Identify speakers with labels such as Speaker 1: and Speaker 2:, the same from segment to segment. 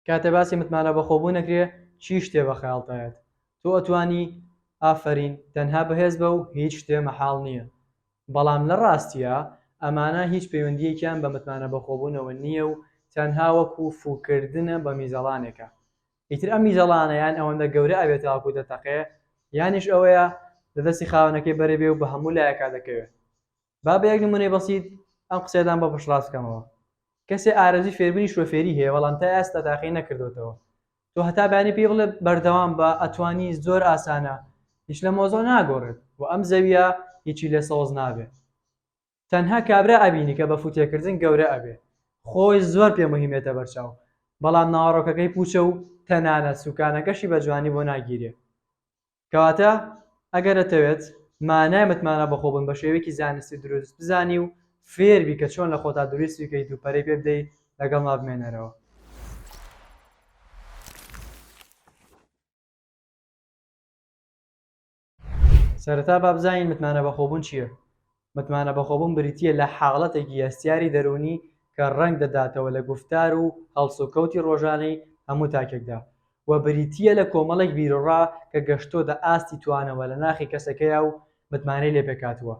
Speaker 1: کاتێ باسی متمانە بەخۆبوون ئەکرێ چی شتێ بە خەیاڵت ئەیەت؟ تۆ ئەتوانی ئافەرین تەنها بەهێز بە و هیچ شتێ مەحاڵ نییە. بەڵام لە ڕاستیا ئەمانە هیچ پەیوەندییەکیان بە متمانە بەخۆبوونەوە نییە و تەنها وەکو فووکردنە بە میزەڵانێکە. ئیتر ئەم میزەڵانە یان ئەوەندە گەورە ئەبێ تاوەکو دەتەقێ یانیش ئەوەیە لە دەستی خاوەنەکەی بەرەبێ و بە هەموو لایەکا دەکەوێ. با بە یەک نموونەی بەسیت ئەم قسەیەتان بۆ پشتڕاست بکەمەوە، کەسێ ئارەزووی فێربوونی شۆفێری هەیە بەڵام تا ئێستا تاقی نەکردۆتەوە، تۆ هەتا بەیانی پێی بڵێ بەردەوام بە ئەتوانی زۆر ئاسانە هیچ لە مۆزۆع ناگۆڕێت و ئەم زەویە هیچی لێ سەوز نابێ تەنها کابرا ئەبینی کە بە فوتێکردن گەورە ئەبێ خۆی زۆر پێ مهمێتە بەرچاو بەڵام ناوەڕۆکەکەی پوچە و تەنانەت سوکانەکەشی بە جوانی بۆ ناگیرێ. کەواتە ئەگەر ئەتەوێت مانای متمانە بەخۆبوون بە شێوەیەکی زانستی و دروست بزانی و فێر بی کە چۆن لە خۆتا دروستی بکەیت و پەرەی پێ بدەی لەگەڵما بمێنەرەوە. سەرەتا با بزانین متمانە بەخۆبوون چییە؟ متمانە بەخۆبوون بریتییە لە حاڵەتێکی هەستیاری دەروونی کە ڕەنگ دەداتەوە لە گوفتار و هەڵسوکەوتی ڕۆژانەی هەموو تاکێکدا و بریتییە لە کۆمەڵێک بیروڕا کە گەشتۆتە ئاستی توانەوە لە ناخی کەسەکەیا و متمانەی لێ پێکهاتووە.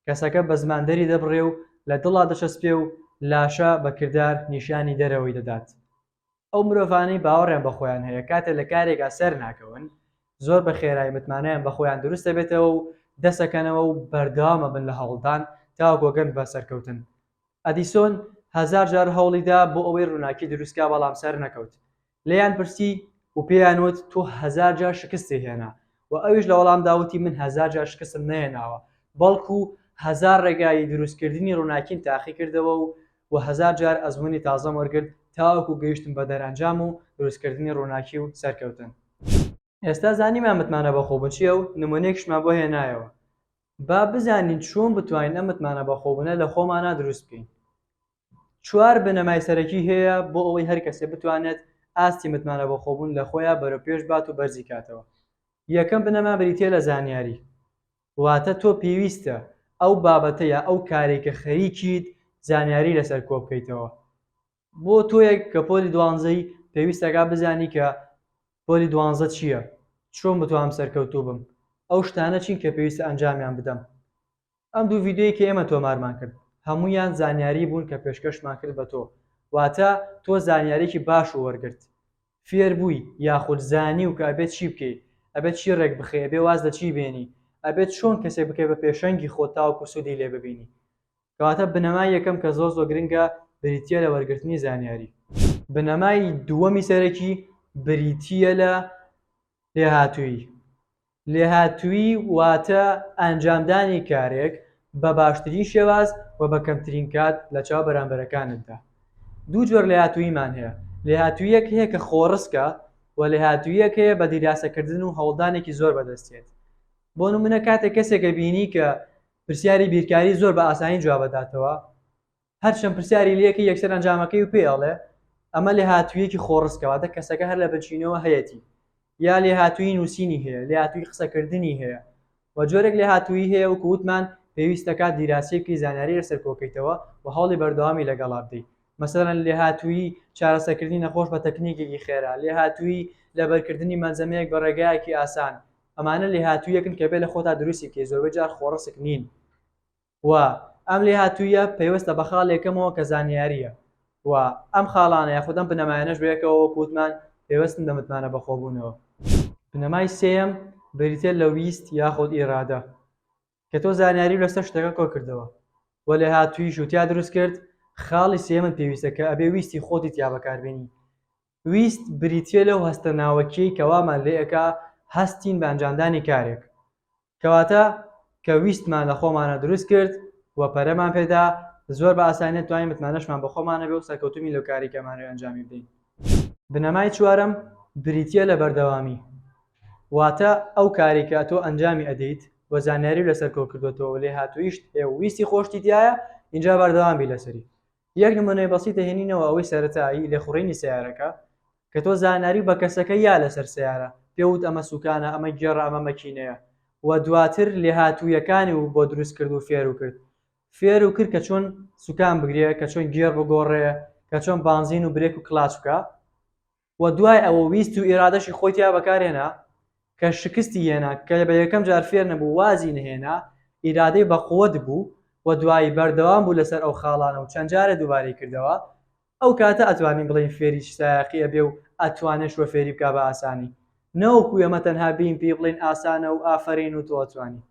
Speaker 1: کەسەکە بە زمان دەریدەبڕێ و لە دڵا دەچەسپێ و لاشە بە کردار نیشانی دەرەوەی دەدات. ئەو مرۆڤانەی باوەڕیان بە خۆیان هەیە کاتێ لە کارێکا سەر ناکەون زۆر بە خێرای متمانەیان بە خۆیان دروست دەبێتەوە و دەست ئەکەنەوە و بەردەوام ئەبن لە هەوڵدان تاوەکو ئەگەن بە سەرکەوتن ئەدیسۆن هەزار جار هەوڵی دا بۆ ئەوەی ڕووناکی دروست کا بەڵام سەر نەکەوت لێیان پرسی و پێیان وت تۆ هەزار جار شکستی هێنا وە ئەویش لە وەڵامدا وتی من هەزار جار شکستم نەهێناوە بەڵکو هەزار ڕێگای دروست کردنی ڕووناکیم تاقی کردەوە و وە هەزار جار ئەزموونی تازەم وەرگرت تاوەکو گەیشتم بە دەرئەنجام و دروست کردنی ڕووناکی و سەرکەوتن. ئێستا زانیمان متمانە بەخۆ بچیە و نموونەیەکیشمان بۆ هێنایەوە با بزانین چۆن بتوانین ئەم متمانە بەخۆبوونە لە خۆمانا دروست بکەین چوار بنەمای سەرەکی هەیە بۆ ئەوەی هەر کەسێ بتوانێت ئاستی متمانە بەخۆبوون لە خۆیا بەرەوپێش بات و بەرزی کاتەوە. یەکەم بنەما بریتیە لە زانیاری، واتە تۆ پێویستە ئەو بابەتە یا ئەو کارەی کە خەریکیت زانیاری لەسەر کۆبکەیتەوە. بۆ تۆیەک کە پۆلی دوانزەی پێویست ئەکات بزانی کە پۆلی دوانزە چیە؟ چۆن بتوانم سەرکەوتوو بم؟ ئەو شتانە چین کە پێویستە ئەنجامیان بدەم؟ ئەم دوو ڤیدیۆی کە ئێمە تۆمارمان کرد هەموویان زانیاری بوون کە پێشکەشمان کرد بە تۆ واتە تۆ زانیاریکی باش و وەرگرت فێر بووی یاخود زانی و کە ئەبێت چی بکەی ئەبێت چی ڕێک بخەی ئەبێ واز لە چی بێنی ئەبێت چۆن کەسێک بکەی بە پێشەنگی خۆت تاوەکو سوودی لێ ببینی کەواتە بنەمای یەکەم کە زۆر زۆر گرنگە بریتیە لە وەرگرتنی زانیاری بنەمای دووەمی سەرەکی بریتیە لە لێهاتوویی لێهاتوویی واتە ئەنجامدانی کارێک بە باشترین شێواز و بە کەمترین کات لەچاو بەرامبەرەکانتدا. دوو جۆر لێهاتووییمان هەیە، لێهاتووییەک هەیە کە خۆڕسکە و لێهاتووییەک هەیە بە دیراسەکردن و هەوڵدانێکی زۆر بەدەستیێت. بۆ نموونە کاتێک کەسێک ئەبینی کە پرسیاری بیرکاری زۆر بە ئاسانی جوابئەداتەوە، هەرچەند پرسیاری لێکەی یەکسەر ئەنجامەکەی و پێی ئەڵێ ئەمە لێهاتوویەکی خۆڕسکە واتە کەسەکە هەر لە بنچینەوە هەیەتی یا لێهاتوویی نووسینی هەیە لێهاتوویی قسەکردنی هەیە و جۆرێک لێهاتوویی هەیە وەکو وتمان پێویست دەکات دیراسەیەکی زانیاری لەسەر کۆکەیتەوە و هەوڵی بەردەوامی لەگەڵا بدەیت مەسەلەن لێهاتوویی چارەسەرکردنی نەخۆش بە تەکنیکێکی خێرا لێهاتوویی لەبەرکردنی مەلزەمەیەک بە ڕێگایەکی ئاسان ئەمانە لێهاتوویەکن کە بێ لە خۆتا دروستی بکەیت زۆربەی جار خۆڕسک نین و ئەم لێهاتووییە پەیوەستە بە خاڵ یەکەمەوە کە زانیارییە و ئەم خاڵانە یاخود ئەم بنەمایانەش بەیەکەوە وەکو وتمان پەیوەستن بە متمانە بەخۆبوونەوە. بنەمای سێیەم بریتییە لە ویست یاخود ئیرادە کە تۆ زانیاری لەسەر شتەکە کۆکردەوە و لێهاتووییش و تیا دروست کرد، خاڵی سێیەمت پێویستە کە ئەبێ ویستی خۆتی تیا بەکاربێنی ویست بریتیە لەو هەستە ناوەکیەی کە وامان لێ ئەکا هەستین بە ئەنجامدانی کارێک کەواتە کە ویستمان لە خۆمانە دروست کرد و پەرەمان پێدا زۆر بە ئاسانی دەتوانین متمانەشمان بە خۆمانە بێ و سەرکەوتوبین لەو کارەی کە ئەمانەوێ ئەنجامی بدەین. بنەمای چوارەم بریتیە لە بەردەوامی واتە ئەو کارەی کە تۆ ئەنجامی ئەدەیت و زانیاری لەسەر کۆکردۆتەوە و لێهاتویشت هەیە و ویستی خۆشتی تیایە ئینجا بەردەوام بی لەسەری یەک نمونەی بەسیط دەهێنینەوە ئەوەی سەرەتایی لێخوڕینی سەیارەکە کە تۆ زانیاری بە کەسەکە یا لەسەر سەیارە پێ وت ئەمە سوکانە ئەمە گێڕە ئەمە مەکینەیە و دواتر لێهاتوویەکانی و بۆ دروست کرد و فێرو کرد فێرو کرد کە چۆن سوکان بگرێ کە چۆن گێڕ بگۆڕێ کە چۆن بانزین و برێک و کلاچ بکە و دوای ئەوە ویست و ئیرادەشی خۆی تیا بەکارهێنا کە شکستی هێنا کە بە یەکەم جار فێر نەبوو وازی نەهێنا ئیرادەی بە قوت بوو و دوایی بەردەوام بوو لەسەر ئەو خاڵانە و چەند جارێ دووبارەی کردەوە ئەو کاتە ئەتوانین بڵێین فێری سایەقی ئەبێ و ئەتوانێ شوە فێری بکا بە ئاسانی نەوەکو ئێمە تەنها بێین پێی بڵێین ئاسانە و ئافەرین و تۆ ئەتوانی.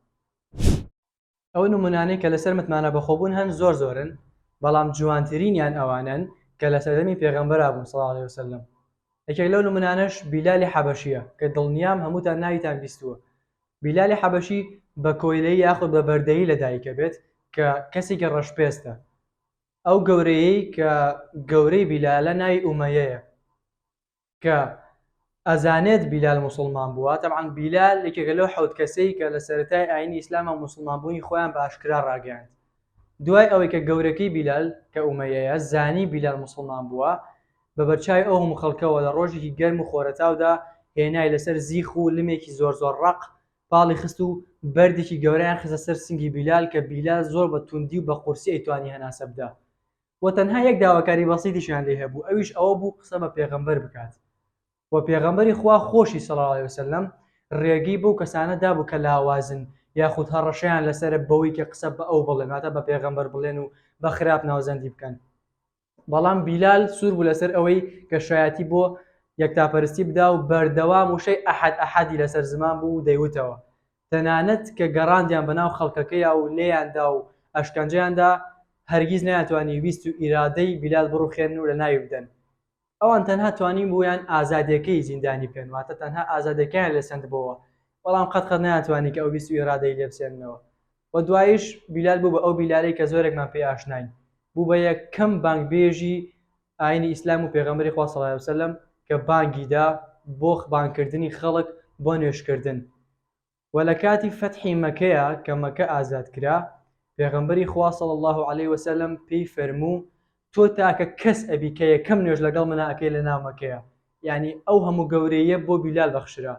Speaker 1: ئەو نمونانەی کە لەسەر متمانە بەخۆبوون هەن زۆر زۆرن، بەڵام جوانترینیان ئەوانەن کە لە سەردەمی پێغەمبەرا بوون صلی اللە علیە وسلم، یەکێک لەو نمونانەش بیلالی حەبەشیە کە دڵنیام هەمووتان ناویتان بیستووە، بیلالی حەبەشی بە کۆیلەیی یاخود بە بەردەیی لە دایکەبێت کە کەسێکی ڕەشپێستە، ئەو گەورەیەی کە گەورەی بیلالە ناوی ئومەیەیە. کە ئەزانێت بیلال موسڵمان بووە، تەبعەن بیلال یەکێکە لەو حەوت کەسەی کە لە سەرەتای ئاینی ئیسلامە موسڵمان بوونی خۆیان بە ئاشکرا ڕاگەیاند دوای ئەوەی کە گەورەکەی بیلال کە ئومەیەیە زانی بیلال موسڵمان بووە بە بەرچاوی ئەو هەموو خەڵکەوە لە ڕۆژێکی گەرم و خۆرەتاودا هێنای لەسەر زیخ و لمێکی زۆر زۆر ڕەق پاڵی خست و بەردێکی گەورەیان خستە سەر سنگی بیلال کە بیلال زۆر بە توندی و بە قورسی ئەیتوانی هەناسە بدا وە تەنها یەک داواکاری بەسیتیشیان لێ هەبوو ئەویش ئەوە بوو قسە بە پێغەمبەر بکات وە پێغەمبەری خوا خۆشی صلی اللە علیە وسلم ڕێگەی بەو کەسانە دابوو کە لاوازن یاخود هەڕەشەیان لەسەرە بەوەی کە قسە بە ئەو بڵێن واتە بە پێغەمبەر بڵێن و بە خراپ ناوزەندی بکەن بەڵام بیلال سوور بوو لەسەر ئەوەی کە شایەتی بۆ یەکتاپەرستی بدا و بەردەوام وشەی ئەحد ئەحدی لەسەر زمان بوو و دەیوتەوە تەنانەت کە گەڕاندیان بە ناو خەڵکەکەیا و لێیان دا و ئەشکەنجەیان دا، هەرگیز نەیانتوانی ویست و ئیرادەی بیلال بڕوخێنن و لەناوی بدەن. ئەوان تەنها توانیبوویان ئازادییەکەی زیندانی بکەن، واتە تەنها ئازادییەکەیان لێ سەندبۆوە، بەڵام قەت قەت نەیانتوانی کە ئەو ویست و ئیرادەی لێ بسێننەوە و دواییش بیلال بوو بە ئەو بیلالەی کە زۆرێکمان پێی ئاشناین، بوو بە یەکەم بانگبێژی ئاینی ئیسلام و پێغەمبەری خوا صلی علیە و سلم کە بانگی دا بۆ بانگ کردنی خەڵک بۆ نوێژ کردن وە لە کاتی فەتحی مەکەیا کە مەکە ئازاد کرا پێغەمبەری خوا صلی اللە علیە و سلم پێی فەرموو تۆ تاکە کەس ئەبی کە یەکەم نوێژ لەگەڵ منا ئەکەی لە ناو مەکەیا یانی ئەو هەموو گەورەییە بۆ بیلال بەخشرا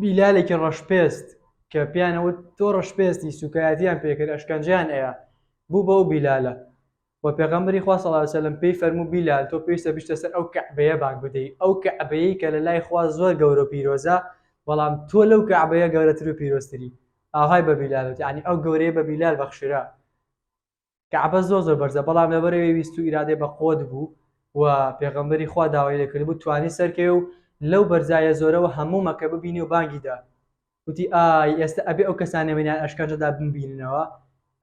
Speaker 1: بیلالێکی ڕەشپێست کە پێیان ئەوت تۆ ڕەشپێستی سووکایەتیان پێکرد ئەشکەنجەیان ئەیا بوو بە ئەو بیلالە و پێغەمبەری خوا صلی اللە علیه و سلم پێی فەرموو بیلال تۆ پێویستە بچیتە سەر ئەو کەعبەیە بانگ بدەی ئەو کەعبەیەی کە لەلای خوا زۆر گەورە و پیرۆزە بەڵام تۆ لەو کەعبەیە گەورەتر و پیرۆزتری ئاوهای بە بیلال وت یەعنی ئەو گەورەیە بە بیلال بەخشرا کەعبە زۆر زۆر بەرزە بەڵام لەبەر ئەوەی ویست و ئیرادەی بەقوەت بوو و پێغەمبەری خوا داوای لێکردبوو توانی سەرکەوێ و لەو بەرزایە زۆرەوە هەموو مەکە ببینێ و بانگی دا وتی ئای ئێستە ئەبێ ئەو کەسانە منیان ئەشکەنجەدا بمبیننەوە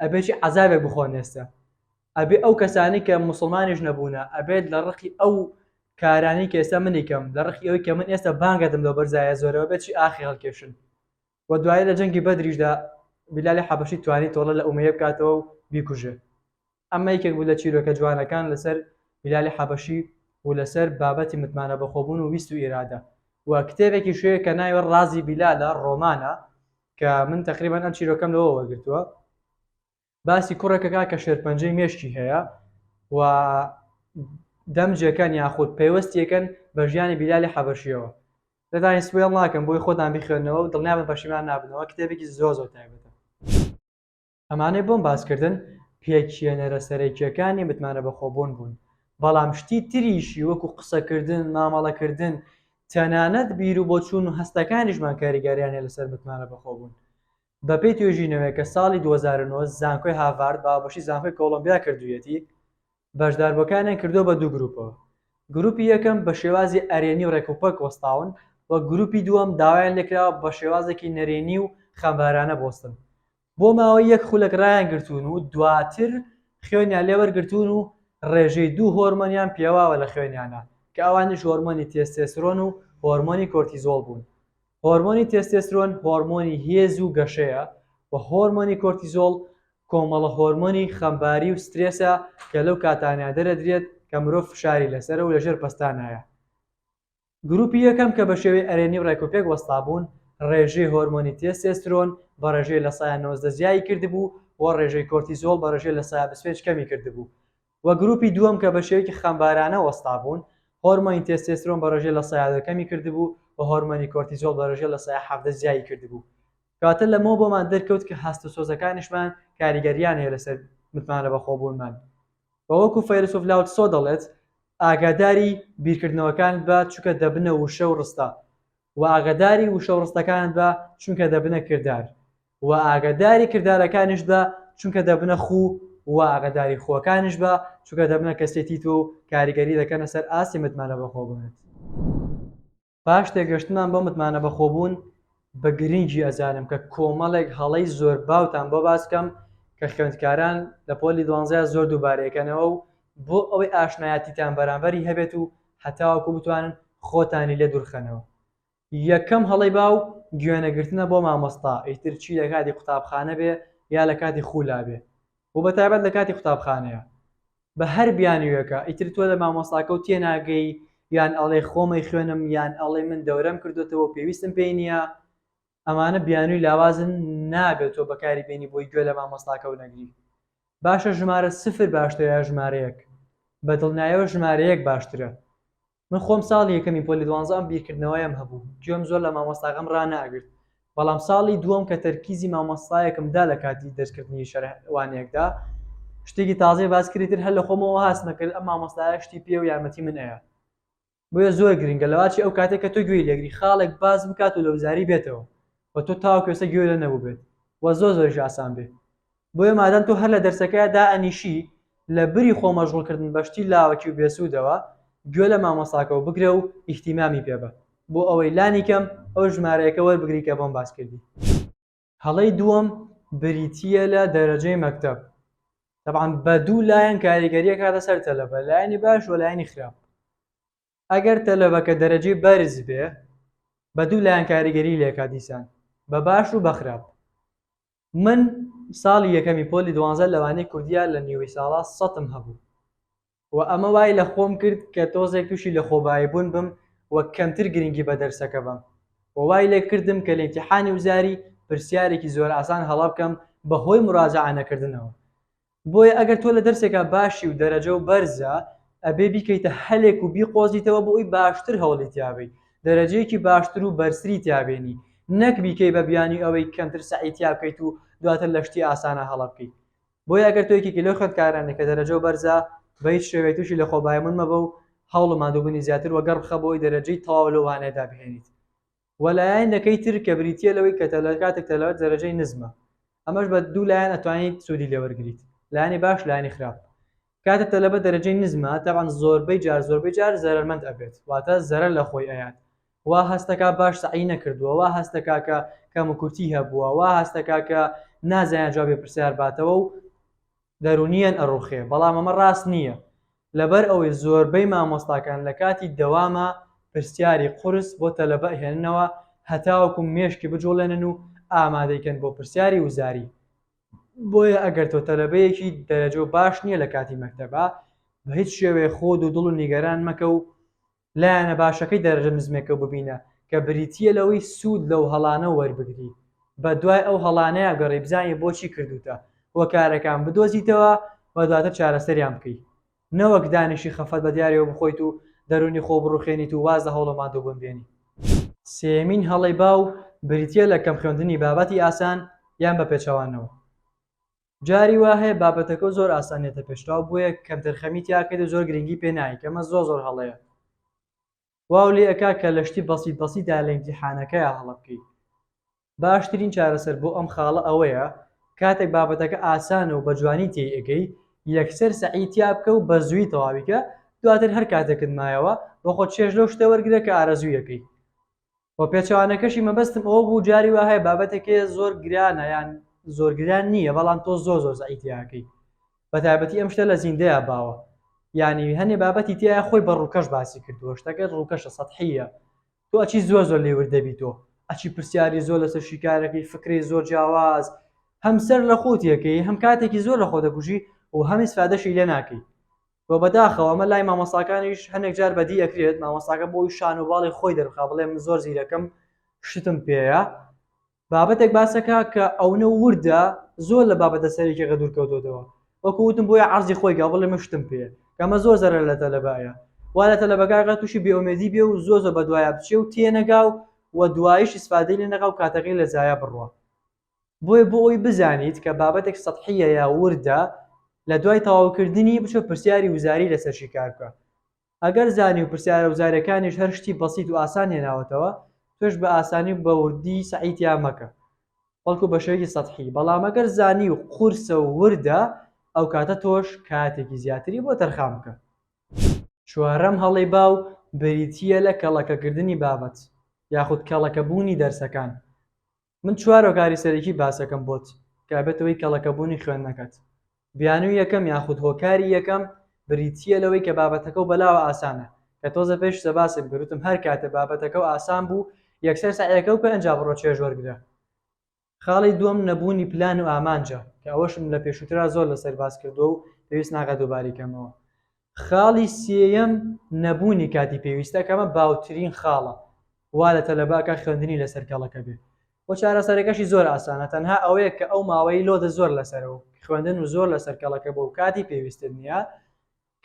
Speaker 1: ئەبێ چی عەزابێک بخۆن ئێستە ئەبێ ئەو کەسانی کە موسڵمانیش نەبوونە ئەبێت لە ڕقی ئەو کارانی کە ئێستا منی کەم لە ڕقی ئەوی کە من ئێستا بانگەدم لەو بەرزایە زۆرەوە بێت چی ئاخی هەڵکێشن وە دوایی لە جەنگی بەدریشدا بیلالی حەبەشی توانی تۆڵە لە ئومەیە بکاتەوە و بیکوژێ ئەمە یەکێک بوو لە چیرۆکە جوانەکان لەسەر بیلالی حەبەشی و لەسەر بابەتی متمانە بەخۆبوون و ویست و ئیرادە وە کتێبێکیش هەیە کە ناوی ڕازی بیلالە ڕۆمانە کە من تەقریبەن ئەم چیرۆکەم لەوە وەرگرتووە باسی کوڕێکە کا کە شێرپەنجەی مێشکی هەیە و دەمجەکان یاخود پەیوەستیەکەن بە ژیانی بیلالی حەبەشیەوە دەتانی سوێڵ ناکەم بۆی خۆتان بخوێنەوە و دڵنیا بە پەشیمان نابنەوە کتێبێکی زۆ زۆ تایبەتە ئەمانەی بۆم باسکردن پێکیێنەرە سەرەکیەکانی متمانە بەخۆبوون بوون بەڵام شتی تریشی وەکو قسەکردن مامەڵەکردن تەنانەت بیر و بۆچوون و هەستەکانیشمان کاریگەریانە لەسەر متمانە بەخۆبوون بەپێی توێژینەوەیەک کە ساڵی دوو هەزار و نۆ زانکۆی هاڤارد بە هاوبەشی زانکۆی کۆڵۆمبیا کردوویەتی، بەشداربووەکانیان کردووە بە دوو گرووپەوە، گرووپی یەکەم بە شێوازی ئەرێنی و ڕێکوپێک وەستاون و گرووپی دووەم داوایان لێکراوە بە شێوازێکی نەرێنی و خەمبارانە بوەستن. بۆ ماوەی یەک خولەک ڕایانگرتوون و دواتر خوێنیان لێ وەرگرتوون و ڕێژەی دوو هۆرمۆنیان پێواوە لە خوێنیانا کە ئەوانیش هۆرمۆنی تێستێسرۆن و هۆرمۆنی کۆرتیزۆڵ بوون. هۆرمۆنی تێستێسترۆن هۆرمۆنی هێز و گەشەیە و هۆرمۆنی کۆرتیزۆڵ کۆمەڵە هۆرمۆنی خەمباری و سترێسە کە لەو کاتانەیا دەرەدرێت کە مرۆڤ فشاری لەسەرە و لە ژێر پەستانایە. گروپی یەکەم کە بە شێوەی ئەرێنی و ڕێکوپێک وەستابوون ڕێژەی هۆرمۆنی تێستێسترۆن بە ڕێژەی لە سایە نۆزدە زیایی کردبوو و ڕێژەی کۆرتیزۆڵ بە ڕێژەی لە سایە بیست و پێنج کەمی کردبوو و گروپی دووەم کە بە شێوەیەکی خەمبارانە وەستابوون، هۆرمۆنی تێستێسترۆن بە ڕێژەی لە سەیا دە کەمی کردبوو و هۆرمۆنی کۆرتیزۆڵ بە ڕێژەی لە سەیا حەڤدە زیادی کردبوو. کەواتە لەمەوە بۆمان دەرکەوت کە هەست و سۆزەکانیشمان کاریگەرییان هەیە لەسەر متمانە بەخۆبوونمان و وەکو فەیلەسوف لاو تسۆ دەڵێت، ئاگاداری بیرکردنەوەکانت بە چونکە دەبنە وشە و ڕستە، و ئاگاداری وشە و ڕستەکانت بە چونکە دەبنە کردار. و ئاگەداری کردارەکانیشت بە چونکە دەبنە خوو و ئاگەداری خووەکانیش بە چونکە دەبنە کەسێتی تۆ و کاریگەری دەکەنە سەر ئاستی متمانە بەخۆبوونت. پاش تێگەشتنمان بۆ متمانە بەخۆبوون بە گرنگی ئەزانم کە کۆمەڵێک هەڵەی زۆر باوتان بۆ باس بکەم کە خوێندکاران لە پۆلی دوانزەیا زۆر دووبارەی ئەکەنەوە و بۆ ئەوەی ئاشنایەتیتان بەرامبەری هەبێت و هەتاوەکو بتوانن خۆتانی لێ دوورخەنەوە یەکەم هەڵەی باو گوێنەگرتنە بۆ مامۆستا ئیتر چی لەکاتی قوتابخانە بێ یا لەکاتی خولا بێ و بەتایبەت لەکاتی قوتابخانەیا بە هەر بیانویەکە ئیتر تۆ لە مامۆستاکەو تێناگەی یان ئەڵێ خۆمەی خوێنم یان ئەڵێ من دەورەم کردۆتەوە و پێویستم پێی نیە ئەمانە بیانوی لاوازن نابێ تۆ بەکاری بێنی بۆی گوێ لە مامۆستاکەو نەگری باشە ژمارە سفر باشترە یا ژمارە یەک بەدڵنیایەوە ژمارە یەک باشترە من خۆم ساڵی یەکەمی پۆلی دوانزە ئەم بیرکردنەوەیەم هەبوو گوێم زۆر لە مامۆستاکەم ڕاناگرت بەڵام ساڵی دووەم کە تەرکیزی مامۆستایەکم دا لە کاتی دەرسکردنی شەرح وانەیەکدا شتێکی تازەی باس کردی تر هەر لە خۆمەوە هاستمە کرد ئەم مامۆستایە شتی پێ و یارمەتی من ئەیا بۆیە زۆر گرنگە لەواچی ئەو کاتێک کە تۆ گوێی لەگری خاڵێک باس بکات و لە وزاری بێتەوە و تۆ تاوەکو ئێستا گوێ لێ نەبووبێت و زۆر زۆریش ئاسان بێ بۆیە مادام تۆ هەر لە دەرسەکەیا دائەنیشی لە بری خۆ مەژغوڵ کردن بە شتی لاوەکی و بێسوودەوە گوێ لە مامۆستاکەوە بگرە و ئیهتیمامی پێ بە بۆ ئەوەی لانی کەم ئەو ژمارەیەکە وەربگری کە بۆم باس کردی. هەڵەی دووەم بریتییە لە دەرەجەی مەکتەب تەبعەن بە دوو لایەن کاریگەری ئەکاتە سەر تەلەبە لایەنی باش و لایەنی خراپ ئەگەر تەلەبەکە دەرەجەی بەرز بێ بە دوو لایەن کاریگەری لێکا دیسان بە باش و بەخراپ من ساڵی یەکەمی پۆلی دوانزە لەوانی کوردیا لە نیوەی ساڵا سەتم هەبوو و ئەمە وای لە خۆم کرد کە تۆزێک تووشی لە خۆبایی بوون بم و کەمتر گرنگی بە دەرسەکە بەم و وای لێ کردم کە لە ئیمتیحانی وزاری پرسیارێکی زۆر ئاسان هەڵە بکەم بە هۆی مراجەعە نەکردنەوە بۆیە ئەگەر تۆ لە دەرسێکا باشی و دەرەجەو بەرزە ئەبێ بیکەیتە هەلێک و بیقۆزیتەوە بۆ ئەوی باشتر هەوڵی تیا بەی دەرەجەیەکی باشتر و بەرزتری تیا بێنی نەک بیکەی بە بیانوی ئەوەی کەمتر سەعی تیا بکەیت و دواتر لە شتی ئاسانا هەڵە بکەی بۆیە ئەگەر تۆ یەکێکی لەو خوێندکارانەی کە دەرەجەو بەرزە بە هیچ شێوەیەک توشی لە خۆبایمون مەبە و هەوڵ و ماندوبونی زیاتر وەگەڕ بخە بۆ ئەوەی دەرەجەی تەواو لەو وانەیەدا بهێنیت و لایەنەکەی تر کە بریتییە لەوەی کە تەلار کاتێک تەلار دەرەجەی نزمە ئەمەش بە دوو لایەن ئەتوانیت سوودی لێ وەرگریت لایەنی باش لایەنی خراپ کاتێک تەلەبە دەرەجەی نزمە تەبعەن زۆربەی جار زۆربەی جار زەرەرمەند ئەبێت واتە زەرەر لە خۆی ئەیات وا هەست دەکات باش سەعی نەکردووە وا هەست دەکات کە کەموکورتی هەبووە وا هەست دەکات کە نازانێت جوابی پرسیار باتەوە و دەرونییەن ئەڕوخێ بەڵام ئەمە ڕاست نییە لەبەر ئەوەی زۆربەی مامۆستاکان لەکاتی دەواما پرسیاری قورس بۆ تەلەبە ئەهێننەوە هەتاوەکو مێشکی بجوڵێنن و ئامادەی کەن بۆ پرسیاری وزاری بۆیە ئەگەر تۆ تەلەبەیەکی دەرەجەو باش نییە لەکاتی مەکتەبا بەهیچ شێوەیە خۆدو دڵو نیگەران مەکەو لایەنە باشەکەی دەرەجە نزمەکە ببینە کە بریتییە لەوەی سوود لەو هەڵانە وەربگری بە دوای ئەو هەڵانەیا گەڕێی بزانی بۆچی کردووتە هۆکارەکان بدۆزیتەوە و دواتر چارەسەریان بکەی نەوەک دانیشی خەفەت بە دیارەوە بخۆیت و دەروونی خۆ بڕوخێنیت و واز لە هەوڵە ماندووبوون بێنی. سێیەمین هەڵەی باو بریتییە لە کەم خوێندنی بابەتی ئاسان یان بە پێچەوانەوە. جاری وا هەیە بابەتەکەو زۆر ئاسان دێتە پێشتاو بۆیە کەم تەرخەمی تیا کەیت و زۆر گرنگی پێ نایەی کە ئەمە زۆر زۆر هەڵەیە واو لێ ئەکا کە لە شتی بەسیت بەسیت دا لە ئیمتیحانەکەیا هەڵە بکەی باشترین چارەسەر بۆ ئەم خاڵە ئەوەیە کاتێک بابەتەکە ئاسانە و بە جوانی تێی ئەگەی یەکسەر سەعی تیا بکە و بە زووی تەواوی کە دواتر هەر کاتێکت مایەوە بۆ خۆت چێژ لەو شتە وەرگرە کە ئارەزووی ئەکەی و پێچەوانەکەشی مەبەستم ئەوە بوو جاری وا هەیە بابەتێک هەیە زۆر گرانە یان زۆر گران نییە بەڵام تۆ زۆر زۆر زەعی تیاکەی بە تایبەتی ئەم شتە لە زیندەیە باوە یعنی هەنێ بابەتی تیا خۆی بە ڕووکەش باسی کردووە شتەکە ڕووکەشە سەحیە تۆ ئەچی زۆر زۆر لێور دەبی تۆ ئەچی پرسیاری زۆر لەسەر شیکارەکەی فکری زۆر جیاواز هەمسەر لە خۆتیەکەی هەم کاتێکی زۆر لە خۆ دەگوژی و هەمی سفادەشی لێ ناکەی و بەداخەوە ئەمە لای مامۆستاکانیش هەنێک جار بەدی ئەکرێت مامۆستاکە بۆی شان و باڵی خۆی دەربخا بڵێ من زۆر زیرەکم شتم پێیە بابەتێک باسەکە کە ئەونە وردە زۆر لە بابەتە سەرێکێکە دوورکەوتۆتەوە وەکو وتم بۆیە عەرزی خۆی گا بڵێ من شتم پێیە کەمە زۆر زەرە لە تەلەبایە وا لە تەلەبەکەگە تووشی بێومێدی بێ و زۆر زۆر بە دوایە بچێ و تێنەگا و و دوایش ئیسفادەی لێ نەکا و کاتەکەی لە زایە بڕوا بۆیە بۆ ئەوەی بزانیت کە بابەتێک سەتحییە یا وردە لە دوای تەواوکردنی بچۆ پرسیاری وزاری لەسەر شیکار بکە ئەگەر زانی و پرسیارە وزاریەکانیش هەر شتی بەسیت و ئاسان هێناوەتەوە تۆش بە ئاسانی و بە وردی سەعی تیا مەکە بەڵکو بە شێوەیەکی سەتحی بەڵام ئەگەر زانی و قورسە و وردە ئەو کاتە تۆش کاتێکی زیاتری بۆ تەرخان بکە. چوارەم هەڵەی باو بریتییە لە کەڵەکەکردنی بابەت یاخود کەڵەکەبوونی دەرسەکان من چوار هۆکاری سەرەکی باسەکەم بۆت کابێتەوەی کەڵەکەبوونی خوێندنەکەت بیانوی یەکەم یاخود هۆکاری یەکەم بریتییە لەوەی کە بابەتەکە و بەلاوە ئاسانە کە تۆزە پێش سە باسێک بروتم هەر کاتە بابەتەکە و ئاسان بوو یەکسەر سەعیەکە و کە ئەنجا بڕۆ چێژ وەرگرە خاڵی دووەم نەبوونی پلان و ئامانجە کە ئەوەشم لە پێشووترا زۆر لەسەر باس کردووە و پێویست ناکات دووباری کەمەوە خاڵی سێیەم نەبوونی کاتی پێویستە کە ئەمە باوترین خاڵە وا لە تەلەبەکە خوێندنی لەسەر کەڵەکە بێ و چارەسەرەکەشی زۆر ئاسانە تەنها ئەوەیە کە ئەو ماوەی لۆدە زۆر لەسەرە و خوێندن و زۆر لەسەر کەڵەکە بۆ و کاتی پێویستت نییە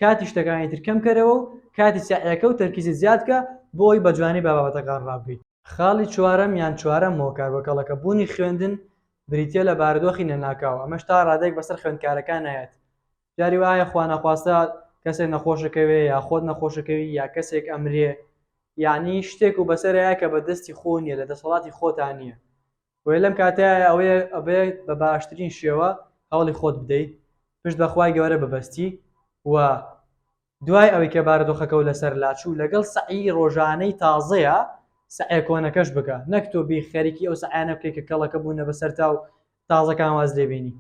Speaker 1: کاتی شتەکانی تر کەم کەرەوە و کاتی سەعیەکە و تەرکیزی زیاد کە بۆی بە جوانی بە بابەتەکان ڕابگەی خاڵی چوارەم یان چوارەم هۆکار بۆ کەڵەکە بوونی خوێندن بریتیە لە بارودۆخی نەناکاو ئەمەش تا ڕادەیەک بەسەر خوێندکارەکان نایەت جاری وایە خوا نەخواستە کەسێک نەخۆشەکەوێ یا خۆت نەخۆشەکەوی یا کەسێک ئەمرێ یعنی شتێک و بەسەرەیە کە بە دەستی خۆ نیە لە دەسەڵاتی خۆتان نییە وێ لەم کاتایە ئەوەیە ئەبێت بە باشترین شێوە هەوڵی خۆت بدەیت پشت بەخوای گەورە ببەستی و دوای ئەوەی کە بارودۆخەکەو لەسەر لاچوو لەگەڵ سەعیی ڕۆژانەی تازەیا سەعیە کۆنەکەش بکە نەک تۆ بی خەریکی ئەو سەعیانە بکەی کە کەڵەکە بوونە بەسەرتاو تازەکان واز لێ بێنی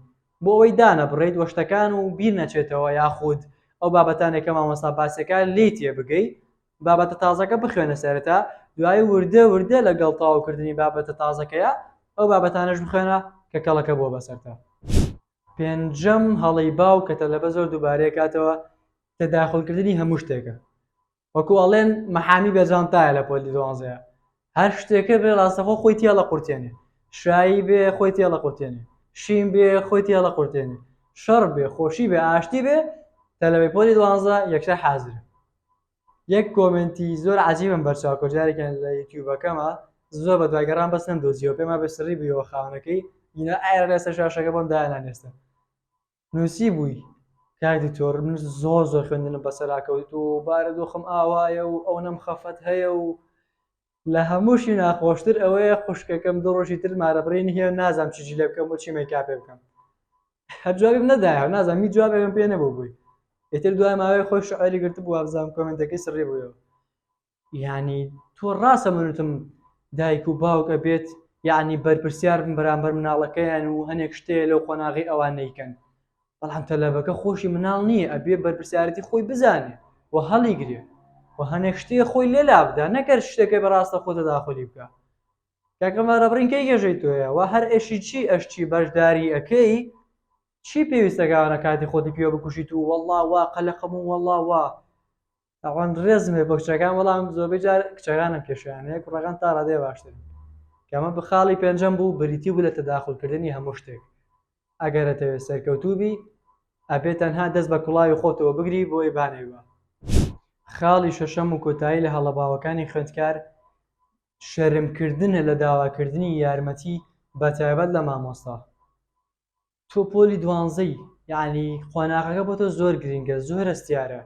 Speaker 1: بۆ ئەوەی دانەبڕێیت وە شتەکان و بیر نەچێتەوە یاخود ئەو بابەتانەی کە مامۆستا باسیەکا لێی تێ بگەی بابەتە تازەکە بخوێنە سەرەتا دوایی وردە وردە لەگەڵ تەواو کردنی بابەتە تازەکەیا ئەو بابەتانەش بخوێنە کە کەڵەکە بووە بەسەرتا. پێنجەم هەڵەی باو کە تەلەبە زۆر دووبارەی کاتەوە تەداخول کردنی هەموو شتێکە وەکو ئەڵێن مەحامی بە جانتایە لە پۆلی دوانزەیە هەر شتێکە بێ ڕاستەخۆ خۆی تێڵە قورتێنێ شایی بێ خۆی تێڵە قورتێنێ شین بێ خۆی تێڵە قورتێنێ شەڕ بێ خۆشی بێ ئاشتی بێ تەلەبەی پۆلی دوانزە یەکسەر حازرە یەک کۆمێنتی زۆر عەجیبم بەرچاو کەوت جارێکیان لە یوتیوبەکەما زۆر بە دوای گەڕام بەس نەمدۆزیەوە پێم وابێ سڕی بوویەوە خاوەنەکەی ئینا ئایە لەسەر شاشەکە بۆم دایانانێستن نووسی بووی کاک دکتۆر من زۆر زۆر خوێندنم بەسەرا کەوت و بارودۆخم ئاوایە و ئەوەنەم خەفەت هەیە و لە هەمووشی ناخۆشتر ئەوەیە خوشکەکەم دوو ڕۆژی تر مارە بڕینی هەیە و نازانم چ جلێ بکەم و چی مەیکاپێ بکەم هەر جوابیم نەدایەوە نازانم هیچ جوابێکم پێ نەبوو بووی ئیتر دوای ماوەی خۆی شعری گرتبوو وابزانم کۆمنتەکەی سڕی بوویەوە یعنی تۆ ڕاستە منوتم دایک و باوک ئەبێت یعنی بەرپرسیار بن بەرامبەر مناڵەکەیان و هەنێک شتەیە لەو قۆناغی ئەوان نەیکەن بەڵام تەلەبەکە خۆشی مناڵ نییە ئەبێ بەرپرسیارەتی خۆی بزانێ و هەڵیگرێ و هەنێک شتێ خۆی لێ لابدا نەکەر شتەکە بەڕاستە خۆ تەداخولی بکە کاکە مارەبڕین کەی گێژەی تۆیە و هەر ئێشی چی ئەشتی بەشداری ئەەکەی چی پێویستەکانە کاتی خۆتی پێوە بکوشیت و وەڵا وا قەلەقەم و وەڵا وا ئەوان ڕێزم هەیە بۆ کچەکان بەڵام زۆربەی جار کچەکانم پێشیان هەیە کوڕەکان تا ڕادێ باشتر کەمە بخاڵی پێنجەم بوو بریتی بوو لە تەداخلکردنی هەموو شتێک ئەگەرەتەوێت سەرکەوتوبی ئەبێت تەنها دەست بە کوڵاوی خۆتەوە بگری بۆی بانێوە خاڵی شەشەم و کۆتایی لە هەڵە باوەکانی خوێندکار شەرمکردنە لە داواکردنی یارمەتی بە تایبەت لە مامۆستا تۆ پۆلی دوانزەی یعنی قۆناغەکە بۆ تۆ زۆر گرنگە زۆر هەستیارە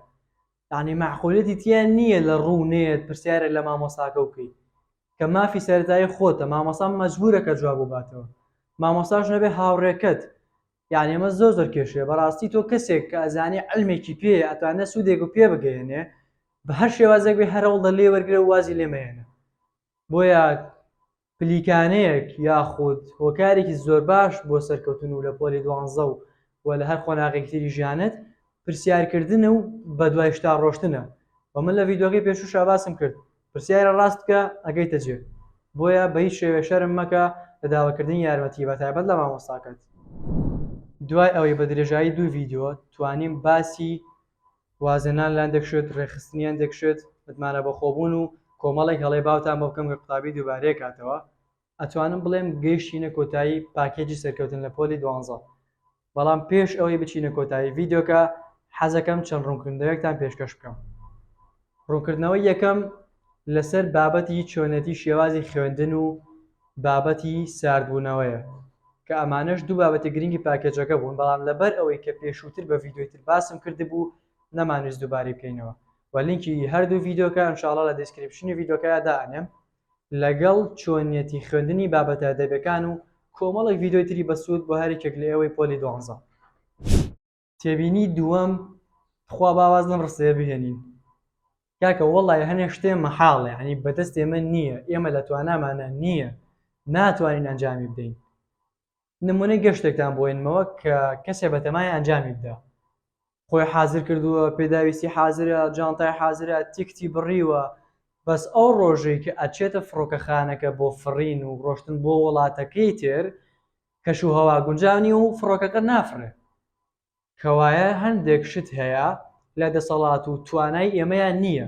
Speaker 1: یعنی معقولەتی تیان نییە لە ڕوو نێت پرسیارە لە مامۆساکە بکەی کە مافی سەرتایی خۆتە مامۆسا مەجبورە کە جواب و باتەوە مامۆساش نەبێ هاوڕێکەت یعنی ئەمە زۆر زۆر کێشەیە بەڕاستی تۆ کەسێک کە ئەزانی علمێکی پێ ئەتوانە سوودێک و پێ بگەێنێ بە هەر شێوازێک بێ هەرەوڵ دە لێ وەرگرە وازی لێمەێنە بۆیە پلیکانێک یاخود هۆکارێکی زۆرباش بۆ سەرکەوتن و لە پۆلی دوانزە و و لە هەر قۆناغێکی تری ژیانت پرسیار کردنە و بە دوای شتا ڕۆشتنە و من لە ڤیدیۆکەی پێشوشا باسم کرد پرسیارە ڕاست بکە ئەگەیتە جێ بۆیە بە هیچ شێوێ شەرم مەکە لە داوە کردنی یارمەتی بە تایبەت لە مامۆستاکەت. دوای ئەوەی بە درێژایی دوو ڤیدیۆ توانیم باسی وازهێنان لان دەکشێت، ڕێکخستنیان دەکشێت، متمانە بەخۆبوون و کۆمەڵێک هەڵەی باوتان بۆ بکەم کە قوتابی دووبارەی کاتەوە، ئەتوانم بڵێم گەیشتینە کۆتایی پاکێجی سەرکەوتن لە پۆلی دوانزە. بەڵام پێش ئەوەی بچینە کۆتایی ڤیدیۆکە حەزەکەم چەند ڕوونکردنەوەیەکتان پێشکەش بکەم. ڕوونکردنەوەی یەکەم لەسەر بابەتی چۆنێتی شێوازی خوێندن و بابەتی ساردبوونەوەیە کە ئەمانەش دوو بابەتی گرنگی پاکێجەکە بوون بەڵام لەبەر ئەوەی کە پێشووتر بە ڤیدیۆی تر باسم کردبوو نەمانویست دووبارەی بکەینەوە و لینکی هەردوو ڤیدیۆکە ئینشاڵا لە دیسکریپشنی ڤیدیۆکەیا دائەنێم لەگەڵ چۆنیەتی خوێندنی بابەتە ئەدەبیەکان و کۆمەڵێک ڤیدیۆی تری بەسوود بۆ هەر یەکێک لە ئێوەی پۆلی دوانزە. تێبینی دووەم تخوا با واز لەم ڕستەیە بهێنین کاکە وەڵی هەنێ شتێ مەحاڵێ ینی بەدەست ئێمە نییە ئێمە لە توانامانە نییە ناتوانین ئەنجامی بدەین نمونەی گەشتێکتان بۆینمەوە کە کەسێ بەتەمای ئەنجامی بدا خۆی حاضر کردووە پێداویستی حاضرە جانتای حاضرە تیکتی بڕیوە بەس ئەو ڕۆژێک کە ئەچێتە فڕۆکەخانەکە بۆ فڕین و ڕۆشتن بۆ وڵاتەکەی تر کەش و هەوا گونجاو نیە و فڕۆکەکە نافڕێت. کەوایە هەندێک شت هەیە لە دەسەڵات و توانای ئێمەیان نیە.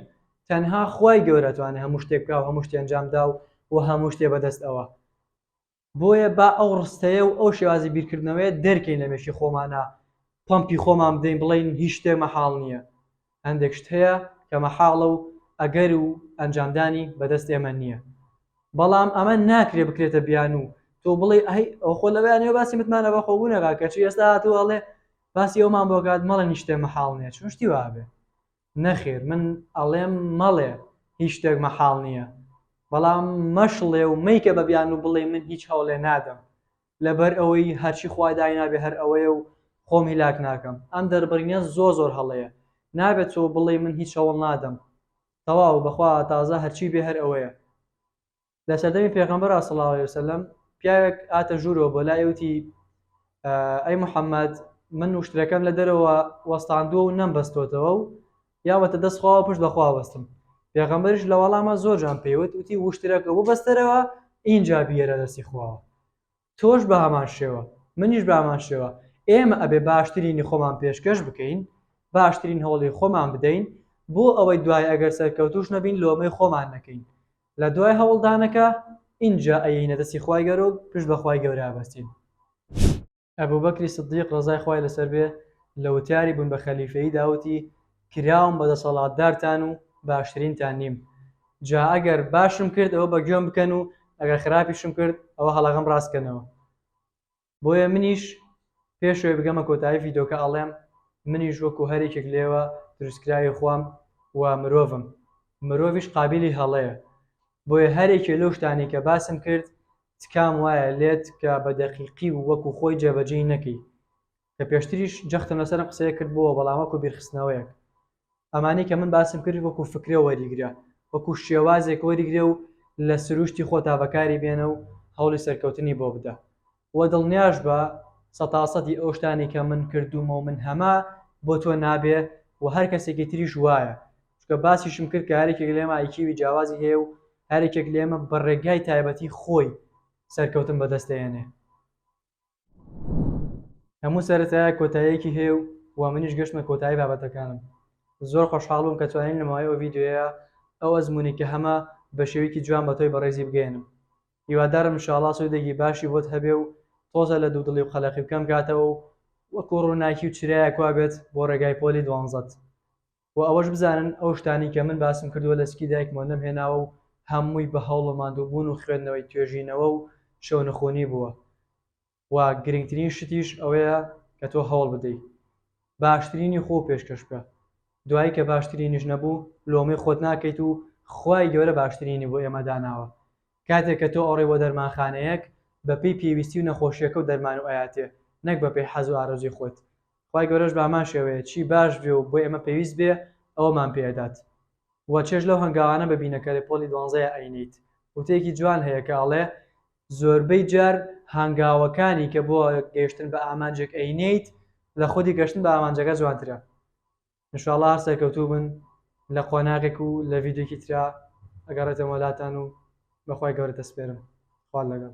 Speaker 1: تەنها خوای گەورە توانێ هەموو شتێ بکا و هەموو شتێ ئەنجام دا و و هەموو شتێ بە دەست ئەوە. بۆیە با ئەو ڕستەیە و ئەو شێوازی بیرکردنەوەیە دەرکەین لە مێشکی خۆمانا پەمپی خۆمان بدەین بڵێین هیچ شتێ مەحاڵ نیە. هەندێک شت هەیە کە مەحاڵە و ئەگەر و ئەنجامدانی بە دەست ئێمە نییە، بەڵام ئەمە ناکرێ بکرێتە بیانوو، تۆ بڵێی ئەی ئەو خۆ لەوەیان نەوێ باسی متمانە بەخۆبوون ئەکات، کەچی ئێستا هاتووە ئەڵێ باسی ئەومان بۆ ئەکات، مەڵێن هیچ شتێ مەحاڵ نییە، چۆن شتی وا ئەبێ؟ نەخێر من ئەڵێم مەڵێ هیچ شتێک مەحاڵ نییە، بەڵام مەشڵێ و مەیکە بە بیانوو بڵێی من هیچ هەوڵێ نادەم، لەبەر ئەوەی هەرچی خوا داینابێ هەر ئەوەیە و خۆم هیلاک ناکەم. ئەم دەربڕینە زۆر زۆر هەڵەیە. نابێ تۆ بڵێی من هیچ هەوڵ نادەم. تەواو بەخوا تازە هەرچی بێ هەر ئەوەیە. لە سەردەمی پێغەمبەرا صلی اللە علیە و سلم پیاوێک هاتە ژوورەوە بۆ لای وتی، ئەی محمد من وشترەکەم لە دەرەوە وەستاندووە و نەمبەستۆتەوە و یا وەتە دەست خواوە پشت بە خوا بەستم پێغەمبەریش لە وەڵاما زۆر جان پێیوت وتی وشترەکە وبەستەرەوە ئینجا بیێرە دەستی خواوە تۆش بە هەمان شێوە منیش بامان شێوە ئێمە ئەبێ باشترینی خۆمان پێشکەش بکەین باشترین هەوڵی خۆمان بدەین بۆ ئەوەی دوای ئەگەر سەرکەوتوش نەبین لۆمەی خۆمان نەکەین لە دوای هەوڵدانەکە ئینجا ئەینە دەستی خوای گەرۆک پشت بەخوای گەورە بەستین ئەبوبەکری سدیق ڕەزای خوای لەسەر بێ لە وتاری بوون بە خەلیفەییدا وتی، کراوم بە دەسەڵاتدارتان و باشترینتان نیم، جا ئەگەر باشم کرد ئەوە بە گوێم بکەن و ئەگەر خراپیشم کرد ئەوە هەڵەکەم ڕاست کەنەوە. بۆیە منیش پێش ئەوەی بگەمە کۆتایی ڤیدۆکە ئەڵێم منیش وەکو هەر یەکێک لێوە دروستکراوی خوام و مرۆڤم، مرۆڤیش قابیلی هەڵەیە، بۆیە هەر یەکێ لەو شتانەی کە باسم کرد تکام وایە لێت کە بە دەقیقی و وەکو خۆی جێبەجێی نەکەی، کە پێشتریش جەختم لەسەر ئەم قسەیە کردبۆوە بەڵام وەکو بیرخستنەوەیەک ئەمانەی کە من باسم کرد وەکو فکرە وەریگرە وەکو شێوازێک وەریگرە و لە سروشتی خۆتا بەکاری بێنە و هەوڵی سەرکەوتنی بۆ بدە و دڵنیاش بە سەتاسەدی ئەو شتانەی کە من کردومە و من هەمە بۆ تۆ نابێ و هەر کەسێکی تریش وایە چونکە باسیشم کرد کە هەریەکێک لێمە ئای کیوی جیاوازی هەیە و هەریەکێک لێمە بە ڕێگای تایبەتی خۆی سەرکەوتن بەدەست دەێنێ هەموو سەرەتایە کۆتاییەکی هەیە و و منیش گەشتمە کۆتایی بابەتەکانم زۆر خۆشحاڵم کە توانین لەماوەی ئەو ڤیددیوەیە ئەو ئەزمونی کە هەمە بە شێویکی جوان بە تۆی بەڕێزی بگەێنم هیوادارم شاڵا سوودێکی باشی بۆت هەبێ و تۆزە لە دوو دڵی و قەلەقی بکەم کاتەوە و وەکو ڕووناکی و چرایە کوا بێت بۆ ڕێگای پۆلی دوانزەت وە ئەوەش بزانن ئەو شتانەی کە من باسم کردووە لە سکی دایکمەوە نەمهێناوە و هەمووی بە هەوڵ و ماندووبوون و خوێندنەوەی توێژینەوە و شەونخوونی بووە و گرنگترین شتیش ئەوەیە کە تۆ هەوڵ بدەی باشترینی خۆو پێشکەش بکە دوایی کە باشترینیش نەبوو لۆمەی خۆت ناکەیت و خوای گەورە باشترینی بۆ ئێمە داناوە کاتێک کە تۆ ئەڕۆی بۆ دەرمانخانەیەک بەپێی پێویستی و نەخۆشیەکەو دەرمانو ئەیاتێ نەک بەپێی حەزو ئارەزووی خۆت خوای گەورەش بە هەمان شێوەیە چی باش بێ و بۆ ئێمە پێویست بێ ئەوەمان پێ ئەدات و چێژ لەو هەنگاوانە ببینە کە لە پۆلی دوانزەیە ئەینیت وتەیەکی جوان هەیە کە ئەڵێ زۆربەی جار هەنگاوەکانی کە بۆ گەیشتن بە ئامانجێک ئەینیت لە خودی گەشتن بە ئامانجەکە جوانترە انشاءاللە هەر سەرکەوتوو بن لە قۆناغێک و لە ڤیدیۆکی ترا ئەگەڕێتەوە لاتان و بەخوای گەورە دەسپێرم خوال لەگەڵ